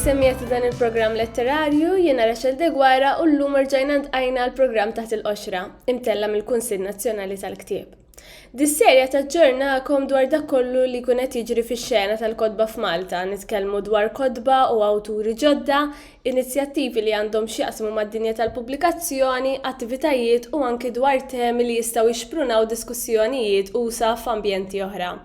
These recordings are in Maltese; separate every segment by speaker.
Speaker 1: Is-semmiet dan il-programm letterarju jiena Rachel Degwara u l-lum rġajna ntqajna l-programm taħt il-qoxra, imtella mill-Kunsill Nazzjonali tal-Ktieb. Dis-serje taġġornakom dwar dak kollu li jkun qed jiġri fix-xena tal-kotba f'Malta. Nitkellmu dwar kotba u awturi ġodda, inizjattivi li għandhom x'jaqsmu mad-dinja tal-pubblikazzjoni, attivitajiet u anki dwar temi li jistgħu jixprunaw diskussjonijiet usa' f'ambjenti oħra.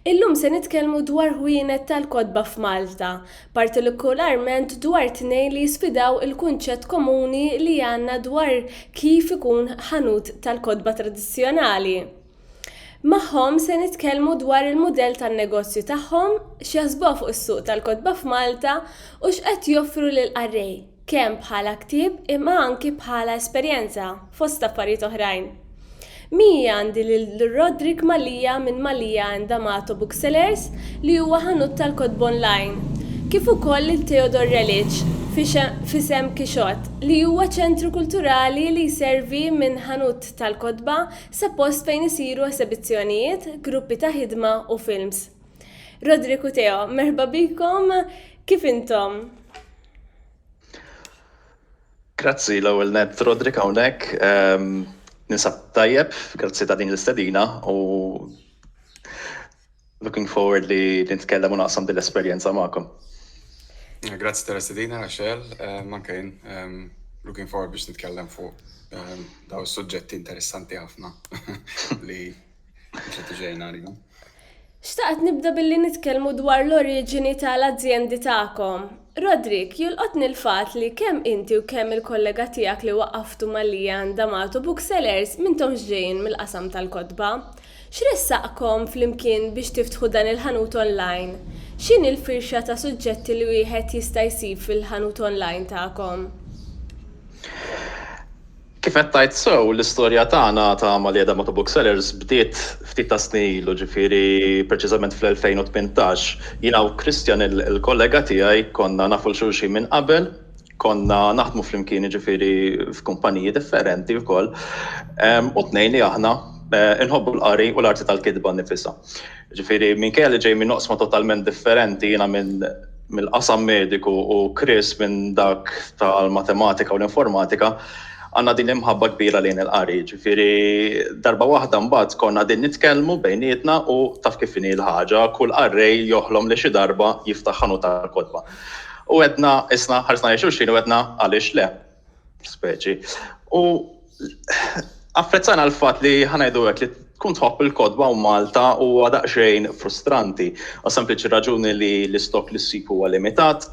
Speaker 1: Illum se nitkellmu dwar ħwienet tal-kotba f'Malta, partolikularment dwar tnejn li jisfidaw il-kunċett komuni li għandna dwar kif ikun ħanut tal-kotba tradizzjonali. Magħhom se nitkellmu dwar il-mudell tan-negozju tagħhom, x'jaħsbuha fuq is-suq tal-kotba f'Malta u x'qed joffru lill-qarrej. kemm bħala ktieb imma anki bħala esperjenza, fost affarijiet oħrajn. Miegħi għandi lil Roderick Mallia minn Mallia and D'Amato Booksellers li huwa ħanut tal-kotba online, kif ukoll lil Theodore Relic f'isem Kixott li huwa ċentru kulturali li jservi minn ħanut tal-kotba sa post fejn isiru esebizzjonijiet, gruppi ta' ħidma u films. Roderick u Theo, merħba bikom, kif intom?
Speaker 2: Grazzi l-ewwel nett Roderick hawnhekk. Ehm, ninsab tajjeb, grazzi ta' din l-istedina u looking forward li nitkellem u naqsam din l-esperjenza magħkom.
Speaker 3: Grazzi tal-istedina, Rachel, eh, manka jien, ehm, looking forward biex nitkellem fuq ehm, daw suġġetti interessanti ħafna li Xtaqt
Speaker 1: nibda billi nitkellmu dwar l-oriġini ta' l-azjendi tagħkom. Roderick, jolqotni l-fatt li kemm inti u kemm il-kollega tiegħek li waqqaftu ma' Leanne D'Amato Booksellers m'intomx ġejjin mill-qasam tal-kotba. X'ressaqkom flimkien biex tiftħu dan il-ħanut online? X'inhi l-firxa ta' suġġetti li wieħed jista' jsib fil-ħanut online tagħkom?
Speaker 2: Kif qed tgħid sew, l-istorja tagħna ta' Malieda Motto Booksellers bdiet ftit tas-snin ilu, ġifieri preċiżament fl-2018. Jiena u Christian, il-kollega tiegħi, konna nafu 'l xulxin minn qabel, konna naħdmu flimkien jiġifieri f'kumpaniji differenti wkoll, u t-tnejn li aħna inħobbu l-qari u l-arti tal-kitba nnifisha. Ġifieri minkejja li ġej minn oqsma totalment differenti, jiena minn mill-qasam mediku u Chris minn dak tal-matematika u l-informatika, għandna din l-imħabba kbira lejn il-qari. Ġifieri darba waħda mbagħad konna qegħdin nitkellmu bejnietna u taf kif inhi l-ħaġa, kull qarrej joħlom li xi darba jiftaħ ħanut tal-kotba. U għedna, qisna, ħarisna lejn xulxin u għedna għaliex le. speċi. U apprezzana l-fat li ħanajdu għek li tkun tħobb il-kodba u Malta u għadaqxejn frustranti. U sempliċi raġuni li l-istok li s-sib huwa limitat,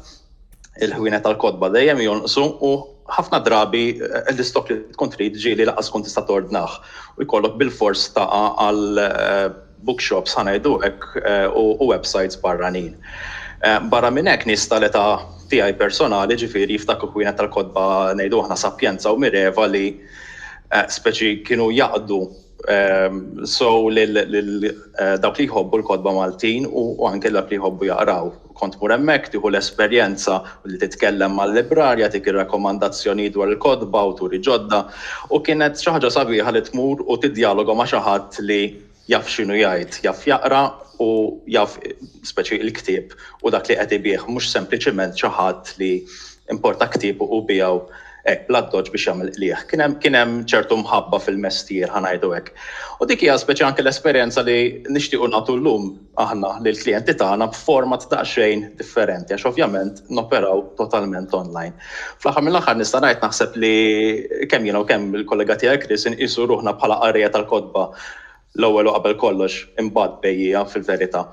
Speaker 2: il-ħwienet tal-kodba dejjem jonqsu u ħafna drabi eh, l-istok li tkun trid ġieli laqas tkun tista' tordnaħ u jkollok bil-fors taqa' għal eh, bookshops, ħa ngħidu hekk, u websajts barranin. Barra minn hekk, nies tal-età tiegħi personali, ġifieri, jiftakru kwienet tal-kotba, ngħidu aħna Sapienza u Mireva li, speċi, kienu jaqdu sew lil dawk li jħobbu l-kotba Maltin u anke dawk li jħobbu jaqraw. Kont tmur hemmhekk, tieħu l-esperjenza u li titkellem mal-librarja, tgħik ir-rakkomandazzjonijiet dwar il-kotba, awturi ġodda, u kienet xi ħaġa sabiħa li tmur u tiddjaloga ma' xi ħadd li jaf x'inhu jgħid, jaf jaqra u jaf speċi il-ktieb u dak li qed ibigħ, mhux sempliċiment xi ħadd li importa ktieb u biegħu hekk bl-addoċċ biex jagħmel qligħ. Kien hemm kien hemm ċertu mħabba fil-mestier, ħa ngħidu hekk. U dik hija speċi anke l-esperjenza li nixtiequ nagħtu llum. aħna lill-klijenti tagħna b'format daqsxejn differenti għax ovvjament noperaw totalment online. Fl-aħħar mill-aħħar nista' ngħid naħseb li kemm jiena u kemm il-kollega tiegħi Chris inqisu ruħna bħala qarrejja tal-kotba l-ewwel u qabel kollox, imbagħad bejjiegħa fil-verità.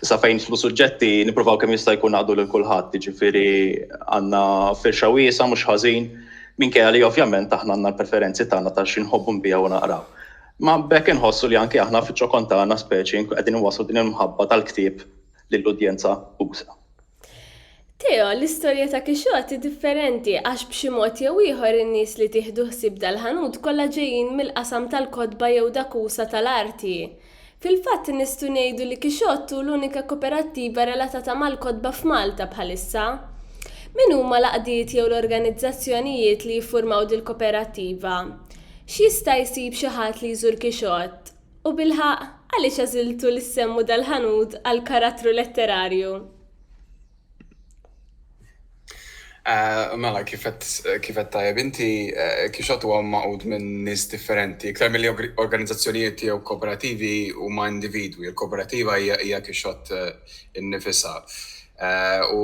Speaker 2: Sa fejn nidħlu suġġetti nippruvaw kemm jista' jkun naqdu lil kulħadd, jiġifieri għandna firxa wiesgħa mhux ħażin, minkejja li ovvjament aħna għandna l-preferenzi tagħna ta' xi nħobbu nbiegħu u naqraw. Ma b'hekk inħossu li anki aħna fiċ-ċokon tagħna speċi nkunu qegħdin inwasslu din il-mħabba tal-ktieb lill-udjenza usa'.
Speaker 1: Theo, l-istorja ta' Kixot hi differenti għax b'xi mod jew ieħor in-nies li tieħdu ħsieb dal-ħanut kollha ġejjin mill-qasam tal-kotba jew dak usa' tal-arti. Fil-fatt nistgħu ngħidu li Kixot hu l-unika koperattiva relatata mal-kotba f'Malta bħalissa. Min huma l-għaqdiet jew l-organizzazzjonijiet li jiffurmaw dil-koperattiva? X'jista' jsib xi ħadd li jżur Kixott? U bilħaqq, għaliex għażiltu li ssemmu dal-ħanut għal karattru letterarju?
Speaker 3: Mela, kif qed tajjeb inti, Kixott huwa magħqud minn nies differenti. Iktar milli organizzazzjonijiet jew kooperativi huma individwi. Il-kooperativa hija Kixott innifisha. u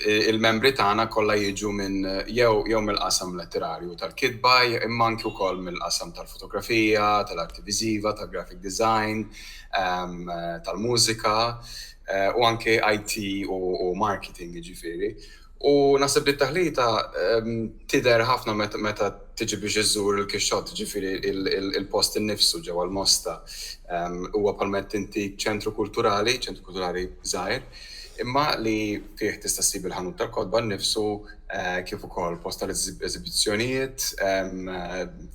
Speaker 3: il-membri tagħna kollha jiġu minn jew mill-qasam letterarju tal-kitba imma anki wkoll mill-qasam tal-fotografija, tal-arti viżiva, tal-graphic design, tal-mużika u anki IT u marketing jiġifieri. U naħseb li t-taħlita tidher ħafna meta tiġi biex iżżur il-kixxott, ġifieri il-post innifsu ġewwa l-Mosta. Huwa bħalma qed inti ċentru kulturali, ċentru kulturali żgħir, imma li fih tista' ssib il-ħanut tal-kotba nnifsu kif ukoll post tal-eżibizzjonijiet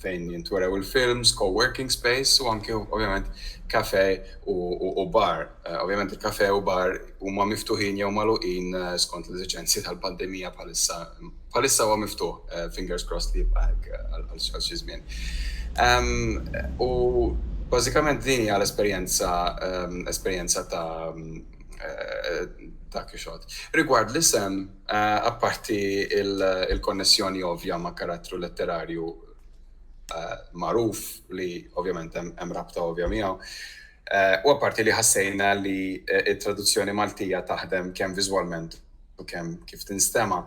Speaker 3: fejn jintwerew il-films, co-working space u anke ovvjament kafè u bar. Ovvjament il-kafè u bar huma miftuħin jew magħluqin skont l-eżiġenzi tal-pandemija bħalissa. Bħalissa huwa miftuħ, fingers crossed li jibqa' hekk għal xi żmien. U bażikament din hija l-esperjenza esperjenza ta' ta' Kixot. Rigward l-isem, apparti il-konnessjoni ovvja ma' karattru letterarju magħruf li ovvjament hemm rabta ovvja miegħu, U apparti li ħassejna li t-traduzzjoni Maltija taħdem kemm viżwalment u kemm kif tinstema',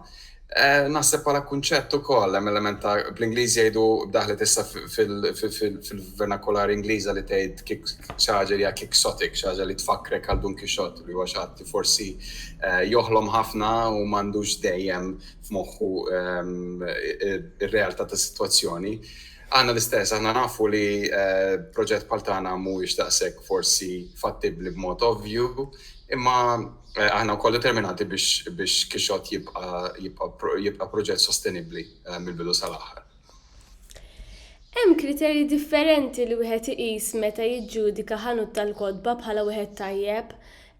Speaker 3: naħseb bħala kunċett ukoll hemm element ta' bl-Ingliż jgħidu daħlet issa fil-vernakolari Ingliża li tgħid kick xi ħaġa li hija quixotic, xi ħaġa li tfakkrek għal Dun Kixott li huwa xi ħadd li forsi joħlom ħafna u m'għandux dejjem f'moħħu r-realtà tas-sitwazzjoni. Aħna l-istess, aħna nafu li proġett bħal tagħna mhuwiex daqshekk forsi fattibbli b'mod ovvju, imma aħna wkoll determinati biex Kixxott jibqa' proġett sostenibbli mill-bidu sal-aħħar.
Speaker 1: Hemm kriterji differenti li wieħed iqis meta jiġġudika ħanut tal-kotba bħala wieħed tajjeb.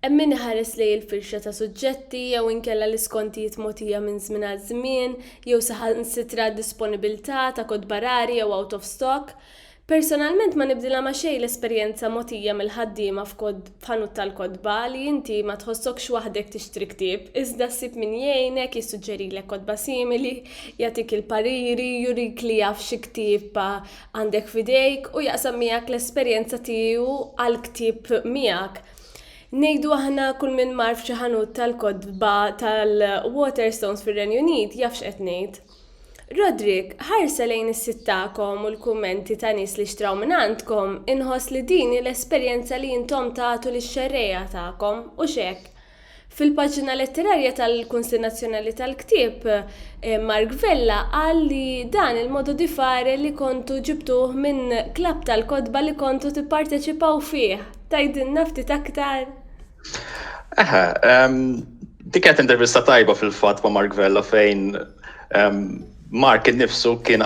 Speaker 1: Hemm min iħares lejn il-firxa ta' suġġetti jew inkella l-iskontijiet mogħtija minn żmien għal żmien jew saħansitra d-disponibilità ta' kotba rari jew out of stock. Personalment ma nibdilha ma' xejn l-esperjenza mogħtija mill-ħaddiema f'ħanut tal-kotba li inti ma tħossokx waħdek tixtri ktieb iżda ssib min jgħinek, jissuġġerilek kotba simili, jagħtik il-pariri, jurik li jaf xi ktieb għandek f'idejk u jaqsam miegħek l-esperjenza tiegħu għall-ktieb miegħek. Ngħidu aħna kull min mar f'xi ħanut tal-kotba tal-Waterstones fir-Renju Unit jaf x'qed ngħid. Roderick, ħarsa lejn is-sit tagħkom u l-kummenti ta' nies li xtraw mingħandkom, inħoss li din hi l-esperjenza li intom tagħtu lix-xerrejja tagħkom, hux hekk? Fil-paġna letterarja tal-Kunsill Nazzjonali tal-Ktieb, Mark Vella qal li dan il-modo di fare li kontu ġibtuh minn klabb tal-kotba li kontu tipparteċipaw fih. Tgħidilna ftit aktar? Eħe,
Speaker 2: dik kienet intervista tajba fil-fatt ma' Mark Vella fejn Mark innifsu kien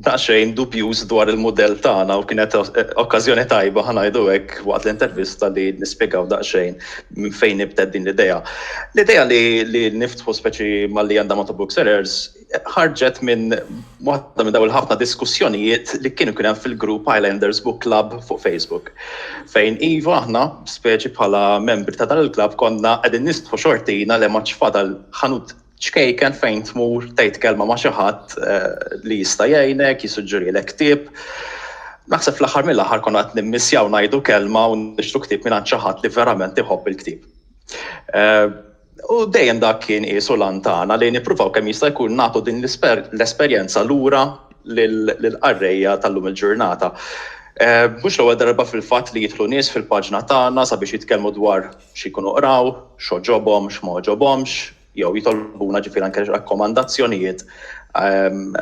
Speaker 2: daqsxejn dubjuż dwar il-mudell tagħna u kienet okkażjoni tajba ħanajdu hekk waqt l-intervista li nispjegaw daqsxejn minn fejn nibtet din l-idea. L-idea li, li niftħu speċi malli għandha ma' Book Sellers ħarġet minn waħda minn daw il-ħafna diskussjonijiet li kienu kien hemm fil-grupp Islanders Book Club fuq Facebook. Fejn iva aħna speċi bħala membri ta' dan il-klabb konna qegħdin nistħu xortina le ma fadal ħanut ċkejken fejn tmur tgħid kelma ma' xi ħadd eh, li jista' jgħinek, jisuġġurilek ktieb. Naħseb fl-aħħar mill-aħħar konna qed nimmissjaw ngħidu kelma u nixtru ktieb minn xi ħadd li verament iħobb il-ktieb. Eh, u dejjem dak kien qisu lantana li nippruvaw kemm jista' jkun nagħtu din l-esperjenza lura lill-qarrejja tal-lum il-ġurnata. Eh, mhux l-ewwel darba fil-fatt li jidħlu nies fil-paġna tagħna sabiex jitkellmu dwar xi jkunu qraw, x'għoġobhom, x'ma għoġobhomx, jew jitolbuna ġifieri anke rakkomandazzjonijiet ehm,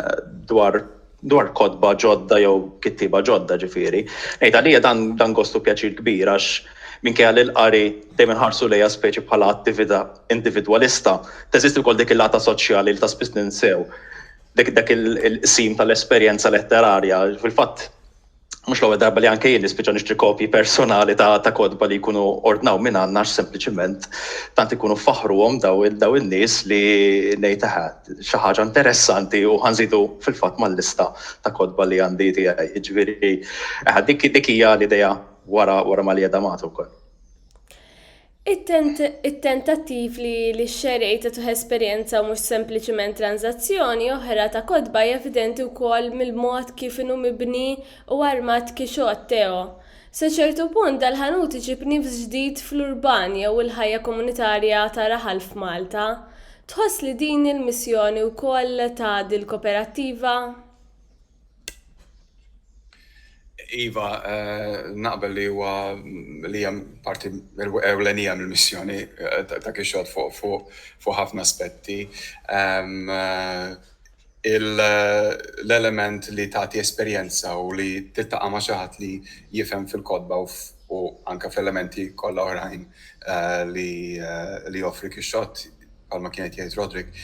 Speaker 2: dwar dwar kodba ġodda jew kittiba ġodda ġifieri. Ngħid għalija dan dan gostu pjaċir kbir għax minkejja li l-qari dejjem inħarsu lejha speċi bħala attività individwalista, teżisti wkoll dik il-lata soċjali li ta' spiss ninsew dik dak il-qsim tal-esperjenza letterarja. Fil-fatt mhux l-ewwel darba li anke jien nispiċċa nixtri kopji personali ta', ta kotba li jkunu ordnaw minn għandna għax sempliċiment tant ikunu faħruhom daw daw in-nies li ngħid eħe xi ħaġa interessanti u ħanżidu fil-fatt mal-lista ta' kotba li għandi tiegħi. Jiġifieri dik dik hija l-idea wara wara ma li qiegħda magħtu wkoll.
Speaker 1: It-tentattiv li x-xerrej tagħtuh esperjenza u mhux sempliċiment tranżazzjoni oħra ta' kotba hi evidenti wkoll mill-mod kif inhu mibni u armat Quixote Theo. Sa ċertu punt dal-ħanut iġib nifs ġdid fl-urban jew il-ħajja komunitarja ta' raħal f'Malta. Tħoss li din hi l-missjoni wkoll ta' dil-koperattiva?
Speaker 3: Iva, eh, naqbel li huwa li hemm parti ewlenija mill-missjoni eh, ta' kixod fuq ħafna aspetti. Ehm, eh, l-element li tagħti esperjenza u li tittaqa' ma' xi ħadd li jifhem fil-kodba u anke f'elementi kollha oħrajn li joffri kixod bħalma kienet jgħid Roderick,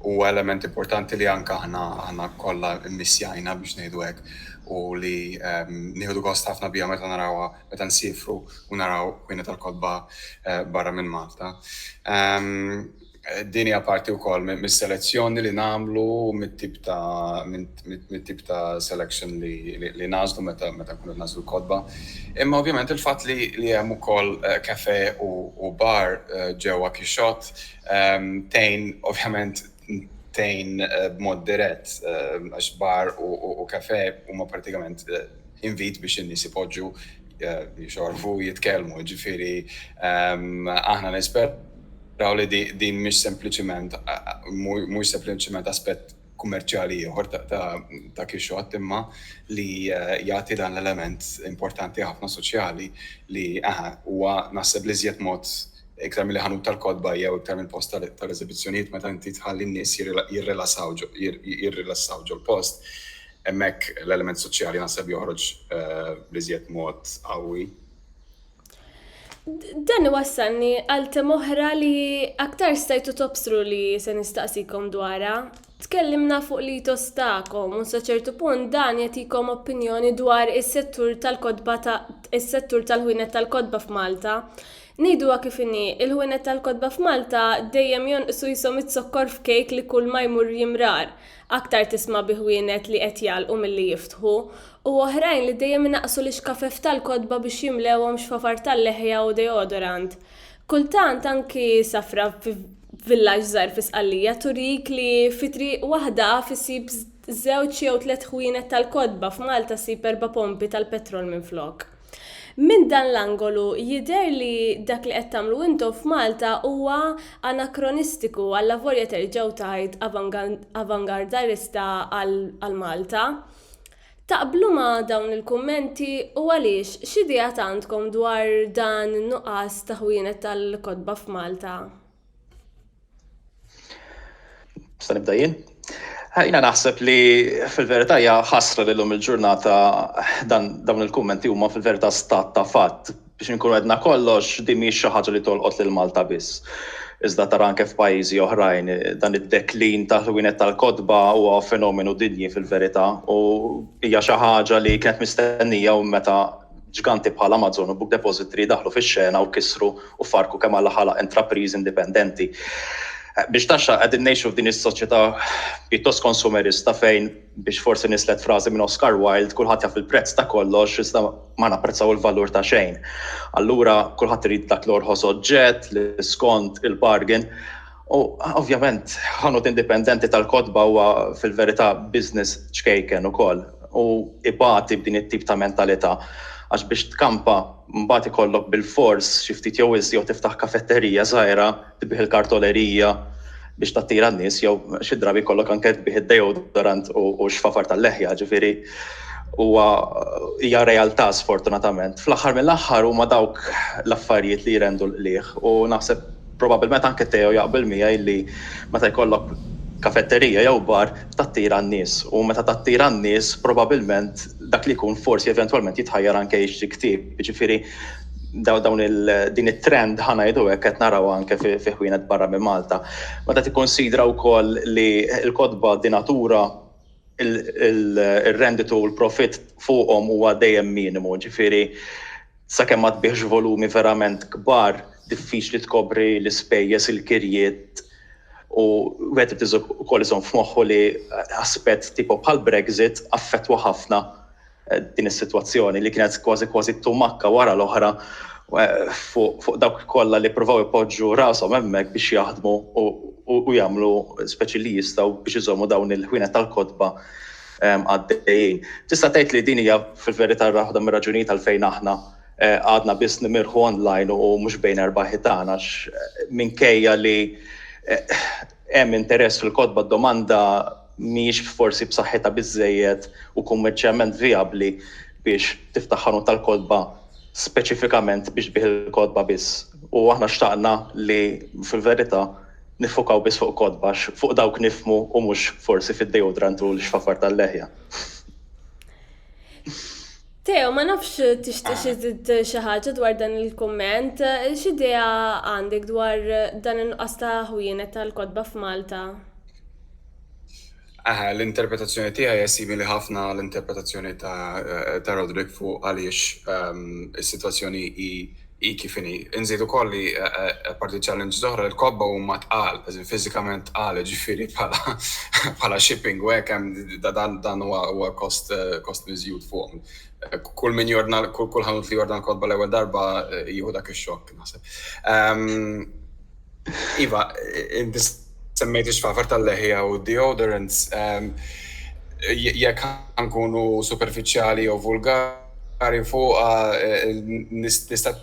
Speaker 3: huwa element importanti li anke aħna aħna kollha mmissjajna biex ngħidu hekk u li nieħdu gost ħafna biha meta narawha meta nsifru u naraw kwina tal-kotba eh, barra minn Malta. Din hija parti wkoll mis-selezzjoni li nagħmlu mit-tip ta' minn mit-tip ta' selection li nagħżlu meta nkunu qed nagħżlu l-kotba. Imma ovvjament il-fatt li hemm ukoll cafe u bar ġewwa Quixote tgħin ovvjament tgħin b'mod dirett għax bar u cafe huma prattikament invit biex in-nies ipoġġu jixorbu u jitkellmu. Jiġifieri aħna nisperaw li din mhix sempliċiment mhux sempliċiment aspett kummerċjali ieħor ta' Kixxott imma li eh, jagħti dan l-element importanti ħafna soċjali li aha huwa naħseb li żjed mod iktar mill ħanut tal-kodba jew iktar mill post tal-eżibizzjonijiet meta inti tħalli n-nies jirrilassaw jirrilassaw ġol-post. Hemmhekk l-element soċjali naħseb joħroġ eh, li żjed mod qawwi.
Speaker 1: Dan iwassalni għal tem oħra li aktar stajtu tobstru li se nistaqsikom dwarha. Tkellimna fuq li tostakom u sa ċertu punt dan jagħtikom opinjoni dwar is-settur tal-kotba ta' is-settur tal-ħwienet tal-kotba f'Malta. Ngħiduha kif inhi, il-ħwienet tal-kotba f'Malta dejjem jonqsu jisom it-zokkor f'kejk li kull ma jmur jimrar. Aktar tisma' bi ħwienet li qed jagħlqu milli jiftħu, u oħrajn li dejjem inaqqsu l-ixkafef tal-kotba biex jimlewhom xfafar tal-leħja u deodorant. Kultant anki safra fi villaġġ żgħir fi Sqallija turik li fi triq waħda af issib żewġ jew tliet ħwienet tal-kotba, f'Malta ssib erba' pompi tal-petrol minflok. Minn dan l-angolu jidher li dak li qed tagħmlu intom f'Malta huwa anakronistiku, allavolja terġgħu tgħid avangardarista għal Malta. Taqblu ma' dawn il-kummenti u għaliex, x'ideat għandkom dwar dan in-nuqqas ta' ħwienet tal-kotba f'Malta?
Speaker 2: Sa nibda jien? Jina naħseb li fil-verità hija ħasra li llum il-ġurnata dan dawn il-kummenti huma fil-verità stat ta' fatt biex inkunu għedna kollox din mhix xi ħaġa li tolqot lil Malta biss. Iżda tara anke f'pajjiżi oħrajn dan id-deklin ta' ħwienet tal-kotba huwa fenomenu dinji fil-verità u hija xi ħaġa li kienet mistennija u meta Ġganti bħal Amazon u Book Depository daħlu fix-xena u kissru u ffarrku kemm alla ħalaq intrapriżi indipendenti. Biex taxxa qegħdin ngħixu f'din is-soċjetà pjuttost konsumerista fejn, biex forsi nislet frażi minn Oscar Wilde, kulħadd jaf il-prezz ta' kollox iżda ma napprezzaw il-valur ta' xejn. Allura kulħadd irid dak l-orħos oġġett li skont il-bargain U ovvjament, ħanut indipendenti tal-kotba huwa fil-verità business ċkejken ukoll u ibati b'din it-tip ta' mentalità għax biex tkampa mbagħad ikollok bilfors xi ftit jew iżjed jew tiftaħ kafetterija żgħira tbigħ il-kartolerija biex tattira n-nies jew xi drabi jkollok anke tbigħ id-deodorant u x-xfafar tal-leħja, ġifieri huwa hija realtà sfortunatament. Fl-aħħar mill-aħħar huma dawk l-affarijiet li jrendu l-qligħ u naħseb Probabbilment anke Theo jaqbel miegħi li meta jkollok kafetterija jew bar tattira n-nies u meta tattira n-nies probabbilment dak li jkun forsi eventwalment jitħajjar anke jixtri ktieb. Jiġifieri dawn din it-trend ħa ngħidu hekk qed narawha anke fi ħwienet barra minn Malta. Meta tikkunsidra wkoll li l-kotba de natura ir-renditu u l-profitt fuqhom huwa dejjem minimu, jiġifieri Sakemm ma tbiegħx volumi verament kbar, diffiċli tkopri l-ispejjeż, il-kirjiet u wieħed irid ukoll iżomm f'moħħu li aspett tipo bħall-Brexit affettwa ħafna din is-sitwazzjoni li kienet kważi kważi tumakka wara l-oħra fuq dawk kollha li ppruvaw ipoġġu rashom hemmhekk biex jaħdmu u jagħmlu speċi li jistgħu biex iżommu dawn il-ħwienet tal-kotba għaddejjin. Tista' tgħid li din hija fil-verità waħda mir-raġunijiet għalfejn aħna eh, għadna biss nimirħu online u mhux bejn erba' ħitan għax eh, minkejja li eh, hemm interess fil-kotba domanda mhijiex forsi b'saħħitha biżejjed u kummerċjament vijabbli biex tiftaħ ħanut tal-kotba speċifikament biex tbih il-kotba biss. U aħna xtaqna li fil-verità niffukaw biss fuq kotba għax fuq dawk nifhmu u mhux forsi fid-deodorant u l-xfafar tal-leħja.
Speaker 1: Teo, ma nafx tixtieq xi żid xi ħaġa dwar dan il-kumment, x'idea għandek dwar dan in-nuqqas ta' ħwienet tal-kotba f'Malta? Eħe,
Speaker 3: l-interpretazzjoni tiegħi hija simili ħafna għall-interpretazzjoni ta' Roderick fuq għaliex is-sitwazzjoni hi kif inhi. Inżid ukoll li apparti challenges oħra, il-kotba huma tqal, eżin fiżikament tqal, jiġifieri bħala shipping u hekk hemm dan huwa kost miżjud fuqhom. Kull min jordna, kull ħanut li jordna l-kotba l-ewwel darba jieħu dak ix-xokk naħseb. Iva, inti semmejt ix-xfafar tal-leħja u deodorants. Ehm, jekk nkunu superfiċjali jew vulgari fuq eh, nista'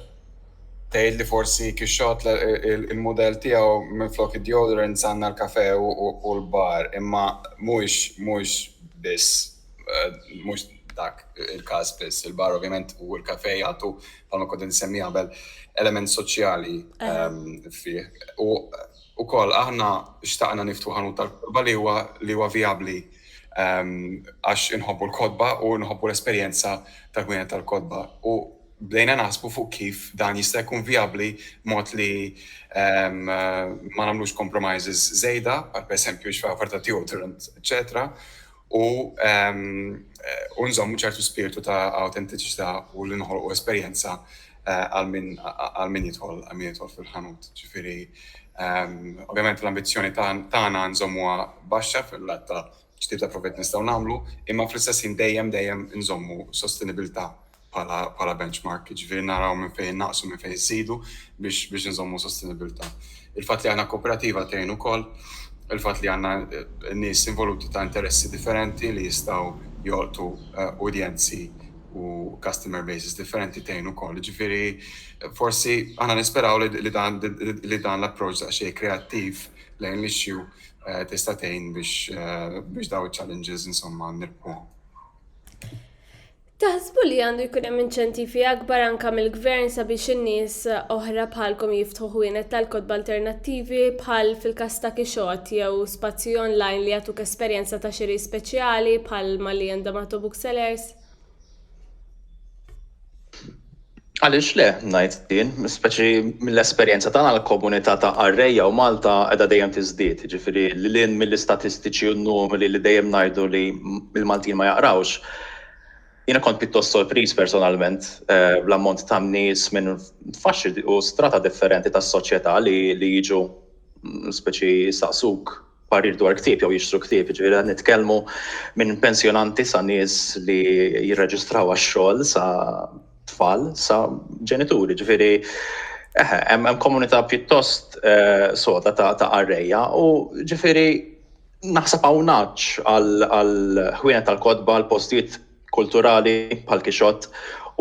Speaker 3: tgħid li forsi kixxot il-mudell tiegħu minflok id-deodorants għandna l-kafe u l-bar, imma mhux mhux biss eh, mhux dak il-każ biss. Il-bar ovvjament u l-kafe jagħtu bħalma kont insemmi qabel, element soċjali fih. U ukoll aħna xtaqna niftu ħanut tal-kotba li huwa li huwa vijabbli għax inħobbu l-kotba u nħobbu l-esperjenza tal-ħwienet tal-kotba. U bdejna naħsbu fuq kif dan jista' jkun vijabbli mod li ma nagħmlux compromises żejda, bħal pereżempju x'fej offerta deodorant, eċċetera. u nżommu ċertu spirtu ta' awtentiċità u li noħolqu esperjenza għal min jidħol għal min jidħol fil-ħanut. Ġifieri, ovvjament l-ambizzjoni tagħna nżommuha baxxa fil-lat ta' x'tip ta' profitt nistgħu nagħmlu, imma fl-istess ħin dejjem dejjem inżommu sostenibilità bħala benchmark, jiġifieri naraw minn fejn innaqsu, minn fejn inżidu biex inżommu sostenibbiltà. Il-fatt li aħna kooperativa tgħin ukoll, il-fatt li għandna nies involuti ta' interessi differenti li jistgħu jolqtu udjenzi u customer bases differenti tgħin ukoll. Jiġifieri forsi aħna nisperaw li dan l-approach ta' xejn kreattiv lejn l-issue tista' tgħin biex dawn iċ-challenges insomma nirpuhom.
Speaker 1: Taħsbu li għandu jkun hemm inċentivi akbar anke mill-Gvern sabiex in-nies oħra bħalkom jiftħu ħwienet tal-kotba alternattivi bħal fil-każ ta' Kixot jew spazji online li jagħtuk esperjenza ta' xiri speċjali bħal ma li għandhom Atobook Sellers?
Speaker 2: Għaliex le, ngħid jien, speċi mill-esperjenza tagħna l-komunità ta' qarrejja u Malta qiegħda dejjem tiżdied, jiġifieri lil hinn mill-istatistiċi u n-numri li dejjem ngħidu li l-Maltin ma jaqrawx. Jiena kont pjuttost sorpriż personalment bl-ammont ta' nies minn faxxi u strata differenti tas-soċjetà li jiġu speċi jistaqsuk parir dwar ktieb jew jixtru ktieb, ġifieri qed nitkellmu minn pensjonanti sa nies li jirreġistraw għax-xogħol sa tfal sa ġenituri, ġifieri eħe, hemm komunità pjuttost eh, soda ta' ta' arreja u ġifieri naħseb hawn għal ħwienet tal-kotba, għal postijiet kulturali bħal kixott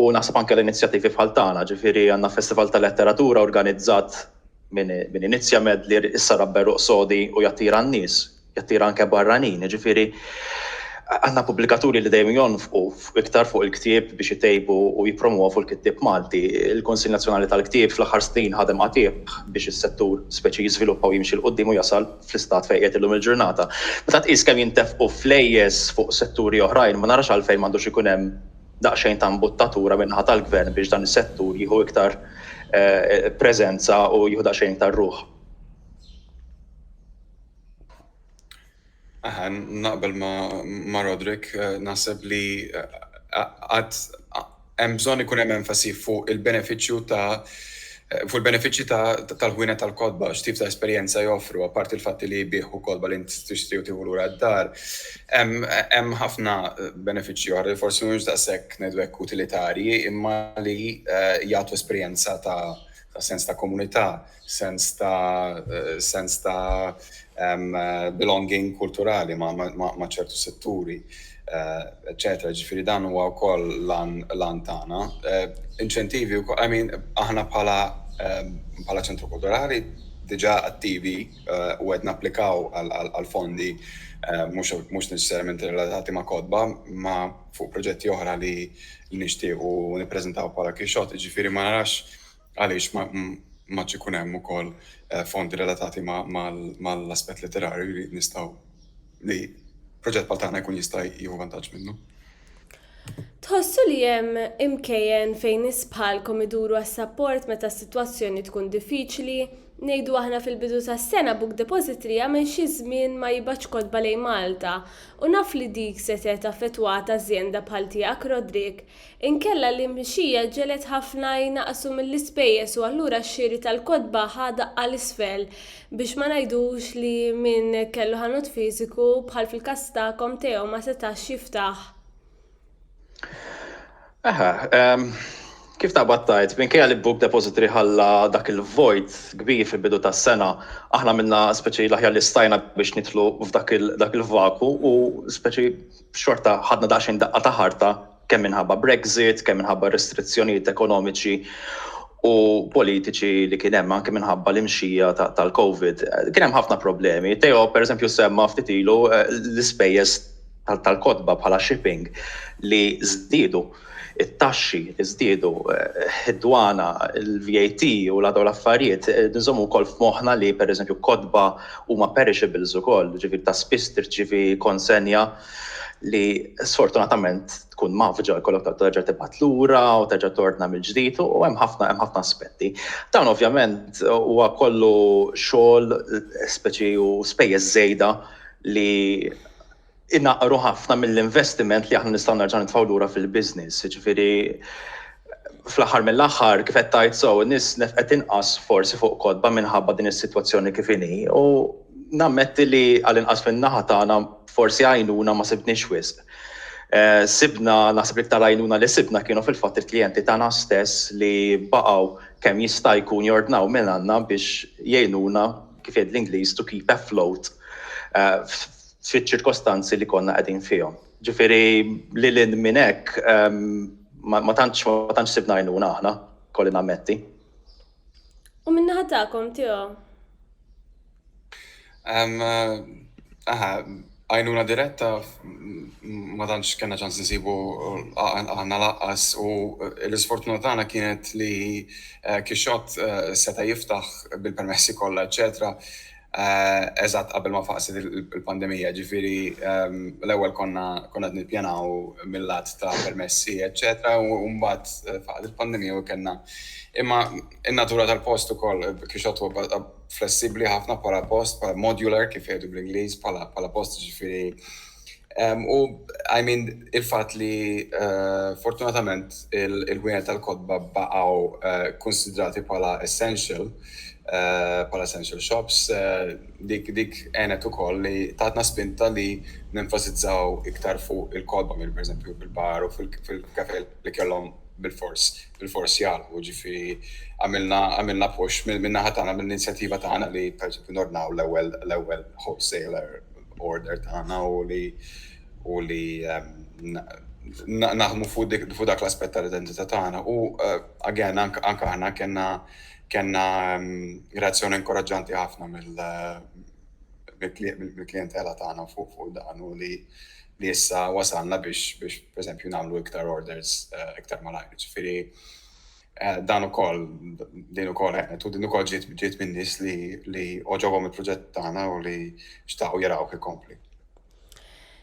Speaker 2: u naħseb anke l-inizjattivi bħal tagħna, ġifieri għandna festival tal-letteratura organizzat Min inizzja medlier issa rabba ruq sodi u jattira n-nies, jattira anke barranin. Jiġifieri għandna pubblikaturi li dejjem jonfqu iktar fuq il-ktieb biex itejbu u jippromwovu l-kittieb Malti. Il-Kunsill Nazzjonali tal-Ktieb fl-aħħar snin ħadem qatigħ biex is-settur speċi jiżviluppa u jimxi 'l quddiem u jasal fl-istat fejn qiegħed illum il-ġurnata. Meta tqis kemm jintefqu flejjes fuq setturi oħrajn ma narax għalfejn m'għandux ikun hemm daqsxejn ta' mbuttatura min-naħa tal-Gvern biex dan is-settur jieħu iktar preżenza u jieħu daqsxejn iktar ruħ.
Speaker 3: Aha, naqbel ma' Roderick, naħseb li għad hemm bżonn ikun hemm enfasi fuq il-benefiċċju ta' Fuq il-benefiċċji tal-ħwienet tal-kotba, x'tip ta' esperjenza joffru, apparti l-fatt li jbigħ u kotba li int tixtri u tieħu lura d-dar, hemm ħafna benefiċċji oħra li forsi mhumiex daqshekk, ngħidu hekk, utilitarji, imma li jagħtu esperjenza ta' sens ta' komunità, sens ta' belonging kulturali ma' ċertu setturi, eccetera. Ġifiri dan huwa wkoll lan tagħna. Inċentivi wkoll, I mean, aħna bħala ċentru kulturali diġà attivi u qed napplikaw għal fondi mhux neċessarjament relatati ma' kotba, ma' fuq proġetti oħra li nixtiequ nippreżentaw bħala Kixxotti. Ġifiri ma narax Għaliex m'għadx ikun hemm ukoll fondi relatati mal-aspett letterarju li nistgħu li proġett bħal tagħna jkun jista' jieħu vantaġġ minnu?
Speaker 1: Tħossu li hemm imkejjen fejn nies bħalkom iduru għas-sapport meta s-sitwazzjoni tkun diffiċli? Ngħidu aħna fil-bidu tas-sena Book Depository għamel xi żmien ma jibgħatx kotba lejn Malta u naf li dik setgħet affettwat ażjenda bħal tiegħek Roderick. Inkella l-imxija ġegħlet ħafna jnaqqsu mill-ispejjeż u allura x-xiri tal-kotba ħa daqqa 'l isfel. Biex ma ngħidux li min kellu ħanut fiżiku, bħal fil-każ tagħkom, Teo, ma setax jiftaħ. Aha, ehm,
Speaker 2: kif taqbad tgħid, minkejja li Book Depository ħalla dak il-vojt kbir fil-bidu tas-sena, aħna minna speċi l-aħjar li stajna biex nidħlu f'dak il-vaku u speċi xorta ħadna daqsxejn daqqa ta' ħarta kemm minħabba Brexit, kemm minħabba r-restrizzjonijiet ekonomiċi u politiċi li kien hemm anke minħabba l-imxija tal-Covid. Kien hemm ħafna problemi. Teo, per eżempju, semma ftit ilu eh, l-ispejjeż tal-kotba bħala shipping li żdiedu. it-taxxi żdiedu, id-dwana, il-VAT u l-għadaw l-affarijiet, nżommu wkoll f'moħħna li pereżempju kotba huma perishables ukoll, ġifieri ta' spiss tirċievi konsenja li sfortunatament tkun mgħaffġa, jkollok toqgħod terġa' tibgħat lura u terġa' tordna mill-ġdid u hemm ħafna hemm ħafna aspetti. Dan ovvjament huwa kollu xogħol speċi u spejjeż żejda li inaqqru ħafna mill-investiment li aħna nistgħu nerġgħu nitfgħu lura fil-business. Jiġifieri fl-aħħar mill-aħħar kif qed tgħid sew nies nefqet inqas forsi fuq kotba minħabba din is-sitwazzjoni kif inhi u nammetti li għal inqas min-naħa tagħna forsi għajnuna ma sibniex wisq. Eh, sibna naħseb li iktar għajnuna li sibna kienu fil-fatt il-klijenti tagħna stess li baqgħu kemm jista' jkun jordnaw minn għandna biex jgħinuna kif jgħid l-Ingliż to keep afloat eh, fiċ-ċirkostanzi li konna qegħdin fihom. Ġifieri lil hinn minn hekk ehm, ma tantx ma tantx sibna għajnuna aħna, kolli nammetti.
Speaker 1: U min-naħa tagħkom tiegħu? Ehm,
Speaker 3: aha, għajnuna diretta ma tantx kellna ċans nsibu għandna laqqas u l-isfortuna tagħna kienet li eh, kixxott eh, seta' jiftaħ bil-permessi kollha, eċetera Eżatt qabel ma faqset il-pandemija, ġifieri l-ewwel konna qed nippjanaw mill-lat ta' permessi, eċċetera, u mbagħad faqgħet il-pandemija u kellna. Imma in-natura tal-post ukoll kixot huwa flessibbli ħafna bħala post, bħala modular kif jgħidu bl-Ingliż, bħala post ġifieri U I mean il-fatt li eh, fortunatament il-gwienet tal-kotba baqgħu eh, konsidrati bħala essential eh, bħala essential shops dik dik għenet ukoll li tatna spinta li nenfasizzaw iktar fuq il-kotba minn pereżempju bil-bar u fil-kafe li kellhom bil-fors bil-fors jgħalqu ġifieri għamilna għamilna push minn naħa tagħna mill-inizjattiva tagħna li pereżempju nornaw l-ewwel l-ewwel wholesaler order tagħna u li u li naħdmu fuq dik fuq dak l-aspett tal-identità tagħna. U eh, again anke aħna kellna kellna mm, reazzjoni inkoraġġanti ħafna mill eh, mill-klientela tagħna fuq fuq dan u li li issa wasalna biex biex pereżempju nagħmlu iktar orders eh, iktar malajr. Ġifieri Eh, dan ukoll din ukoll ħenet u din ukoll ġiet ġiet minn nies li li oġobhom il-proġett tagħna u li xtaqgħu jaraw kif kompli.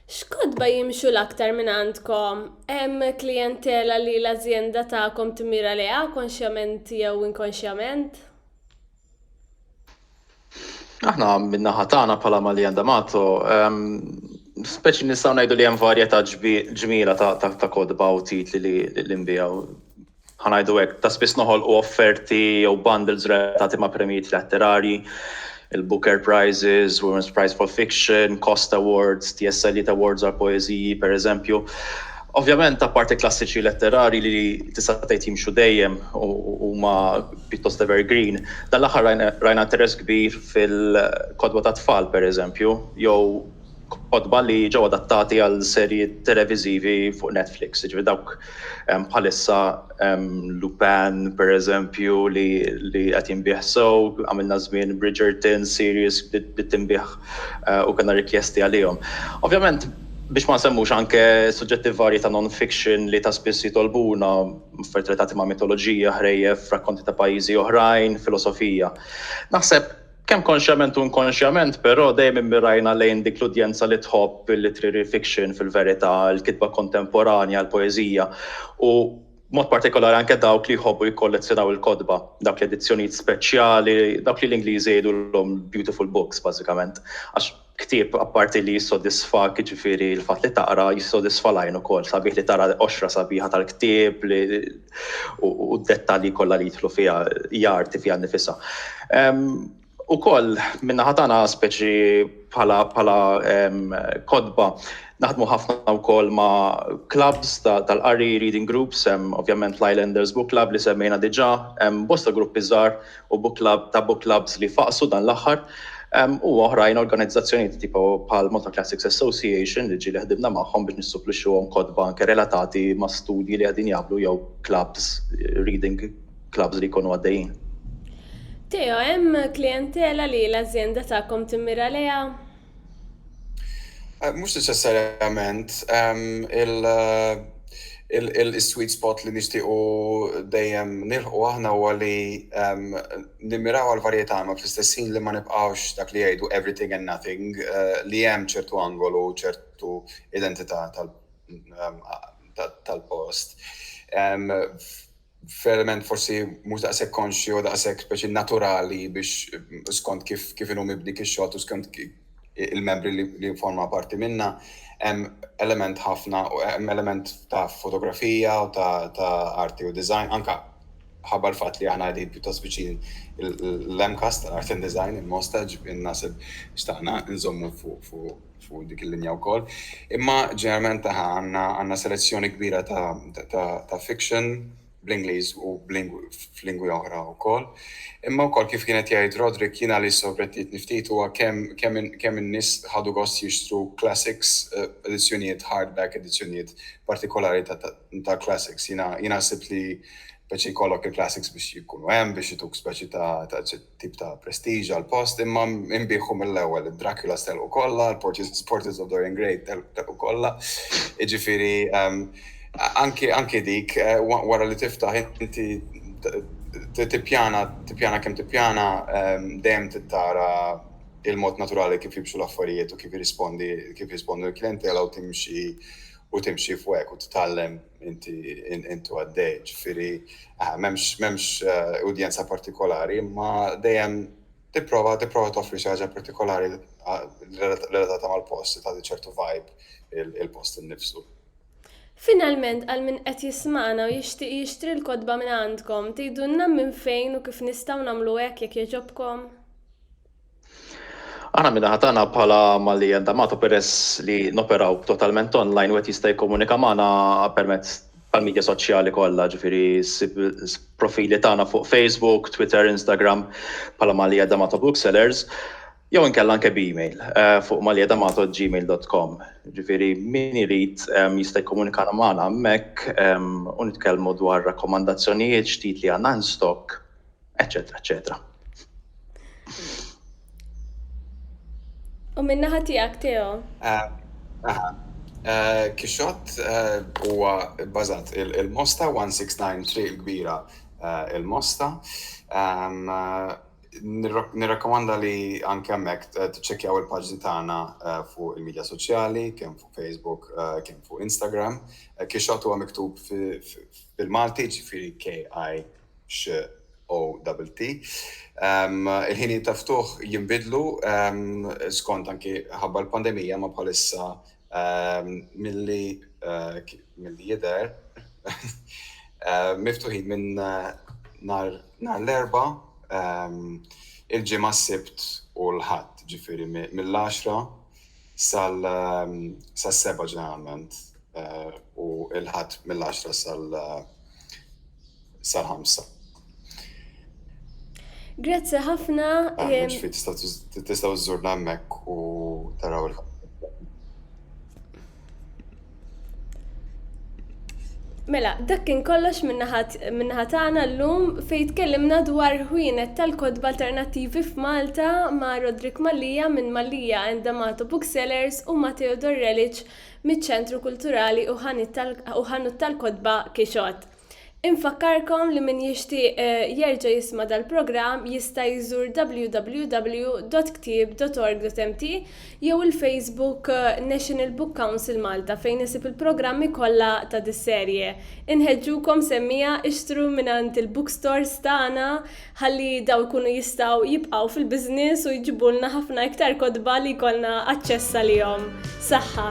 Speaker 1: X'kodba jimxu l-aktar minn għandkom? Hemm klijentela li l-azjenda tagħkom timira leha konxjament jew inkonxjament?
Speaker 2: Aħna min-naħa tagħna bħala Maljan D'Amato, speċi nistgħu ngħidu li hemm varjetà ġmiela ta' kodba u titli li nbijaw. Ħanajdu hekk, ta' spiss noħolqu offerti jew bundles relatati ma' premijiet letterarji, il-Booker Prizes, Women's Prize for Fiction, Cost Awards, TSLiet Awards għal poeżiji, per eżempju. Ovvjament, apparti klassiċi letterarji li tista' tgħid jimxu dejjem u huma pjuttost evergreen, dan l-aħħar rajna interess kbir fil-kotba tat-tfal, pereżempju, jew kotba li ġew adattati għal serji televiżivi fuq Netflix, jiġifieri dawk bħalissa Lupin, pereżempju, li qed jinbiegħ sew, għamilna żmien Bridgerton, series li tinbiegħ u kellna rikjesti għalihom. Ovvjament biex ma nsemmux anke suġġetti varji ta' non-fiction li ta' spiss jitolbuna, affarijiet relatati ma' mitoloġija, ħrejjef, rakkonti ta' pajjiżi oħrajn, filosofija. Naħseb kemm konxjament u inkonxjament però dejjem immirajna lejn dik l-udjenza li tħobb il-literary fiction fil-verità, il-kitba kontemporanja, il-poeżija u, b'mod partikolari anke dawk li jħobbu jikkollezzjonaw il-kotba, dawk l-edizzjonijiet speċjali, dawk li l-Ingliżi jgħidulhom beautiful books bażikament, għax ktieb apparti li jissodisfak, jiġifieri l-fatt li taqra, jissodisfa l-għajn ukoll, sabiħ li tara l-qoxra sabiħa tal-ktieb li u d-dettalji kollha li jidħlu fiha, hija arti fiha nnifisha. Ukoll min-naħa tagħna speċi bħala bħala kotba naħdmu ħafna wkoll ma' clubs tal-qari reading groups, ovvjament l-Islanders Book Club li semmejna diġà, bosta gruppi żgħar u book club ta' book clubs li faqsu dan l-aħħar u oħrajn organizzazzjonijiet tipo bħal Malta Classics Association li ġieli ħdimna magħhom biex nissuplixxuhom kotba anke relatati ma' studji li qegħdin jagħmlu jew clubs reading clubs li jkunu għaddejjin. Theo,
Speaker 1: hemm klijentela li l-azjenda tagħkom timmira lejha?
Speaker 3: Mhux neċessarjament. Il-sweet spot li nixtiequ dejjem nilħqu aħna huwa li nimmiraw għall-varjetà imma fl-istess ħin li ma nibqgħux dak li jgħidu everything and nothing, li hemm ċertu angolu, ċertu identità tal-post. verament forsi mhux daqshekk konxju u daqshekk speċi naturali biex skont kif kif inhu mibni kix-xogħol u skont il-membri li forma parti minna hemm element ħafna u hemm element ta' fotografija u ta' ta' arti u design anka ħabba l-fatt li aħna qegħdin pjuttost viċin l-MCAS tal-Art and Design il-Mosta ġifieri naħseb xtaqna nżommu fuq fuq fuq dik il-linja wkoll. Imma ġeneralment aħna għandna għandna selezzjoni kbira ta', ta, ta, ta fiction bl-Ingliż u f'lingwi oħra wkoll. Imma wkoll kif kienet jgħid Roderick jiena li sorprettietni ftit huwa kemm kemm kemm in-nies ħadu gost jixtru classics, eh, edizzjonijiet hardback, edizzjonijiet partikolari ta', ta, ta classics. Jiena jiena sibt li Speċi jkollok il-classics biex jkunu hemm biex ituk speċi ta' ta' xi tip ta' prestiġ għall-post, imma nbigħu mill-ewwel id-Draculas telqu kollha, il-Portis Porters of Dorian Gray tel telqu kollha. Jiġifieri ehm, anki anki dik eh, wa- wara li tiftaħ inti t- t- tippjana tippjana kemm tippjana ehm, dejjem tittara il-mod naturali kif jimxu l-affarijiet u kif jirrispondi kif jirrispondu l-klijentela u timxi u timxi fuq hekk u titgħallem inti intu għaddej, ġifiri, ah, memx, memx eh, udjenza partikolari, ma dejjem tipprova tipprova toffri xi ħaġa partikolari ah, relatata mal-post, ta' ċertu vibe il-post innifsu. Finalment
Speaker 1: għal min qed jismana u jixtieq jixtri l-kotba minn għandkom, tgħidulna minn fejn u kif nistgħu nagħmlu hekk jekk jogħġobkom?
Speaker 2: Aħna min-naħa tagħna bħala Malli Health D'Amato peress li noperaw totalment online wieħed jista' jikkomunika magħna permezz tal-midja soċjali kollha, ġifieri ssib profili tagħna fuq Facebook, Twitter, Instagram bħala Malli Health D'Amato Booksellers jew inkella anke b'email fuq mallihealthamato@gmail.com. Ġifieri min irid jista' jikkomunika magħna hemmhekk u nitkellmu dwar rakkomandazzjonijiet, x'titli għandna in stock. eċetera, eċetera.
Speaker 1: U minna ħatijak, Teo? Eh, eh,
Speaker 3: eh, Kixot huwa bazat il-Mosta 169 triq il-kbira il-Mosta. Ehm, Nirrakkomanda li anke hemmhekk tiċċekkjaw il-paġni tagħna fuq il-medja soċjali, kemm fuq Facebook, kemm fuq Instagram. Kixot huwa miktub fil-Malti, ġifieri KI XOTT. Il-ħinijiet ta' ftuħ jinbidlu skont anki ħabba l-pandemija, imma bħalissa milli jidher miftuħin minn nhar l-Erbgħa, il-Ġimgħa, s-Sibt u l-Ħadd, ġifieri mill-għaxra sal-seba' ġeneralment u l-Ħadd mill-għaxra sal-ħamsa.
Speaker 1: Grazzi ħafna.
Speaker 3: Tistgħu żżurna hemmhekk u taraw il-ħadd.
Speaker 1: Mela, dak kien kollox minnaħa tagħna llum fejn tkellimna dwar ħwienet tal-kotba alternattivi f'Malta ma' Rodrik Mallia minn Mallia and D'Amato Booksellers u Matteo Dorrelic miċ-Ċentru Kulturali u Ħanut tal-Kotba Kixot. Infakkarkom li min jixtieq jerġa' jisma' dal-programm jista' jżur www.ktieb.org.mt jew il-Facebook National Book Council Malta fejn isib il-programmi kollha ta' dis-serje. Inħeġġukom semmija ixtru mingħand il-bookstores tagħna ħalli dawn ikunu jistgħu jibqgħu fil-business u jġibulna ħafna iktar kotba li jkollna aċċess għalihom. Saħħa!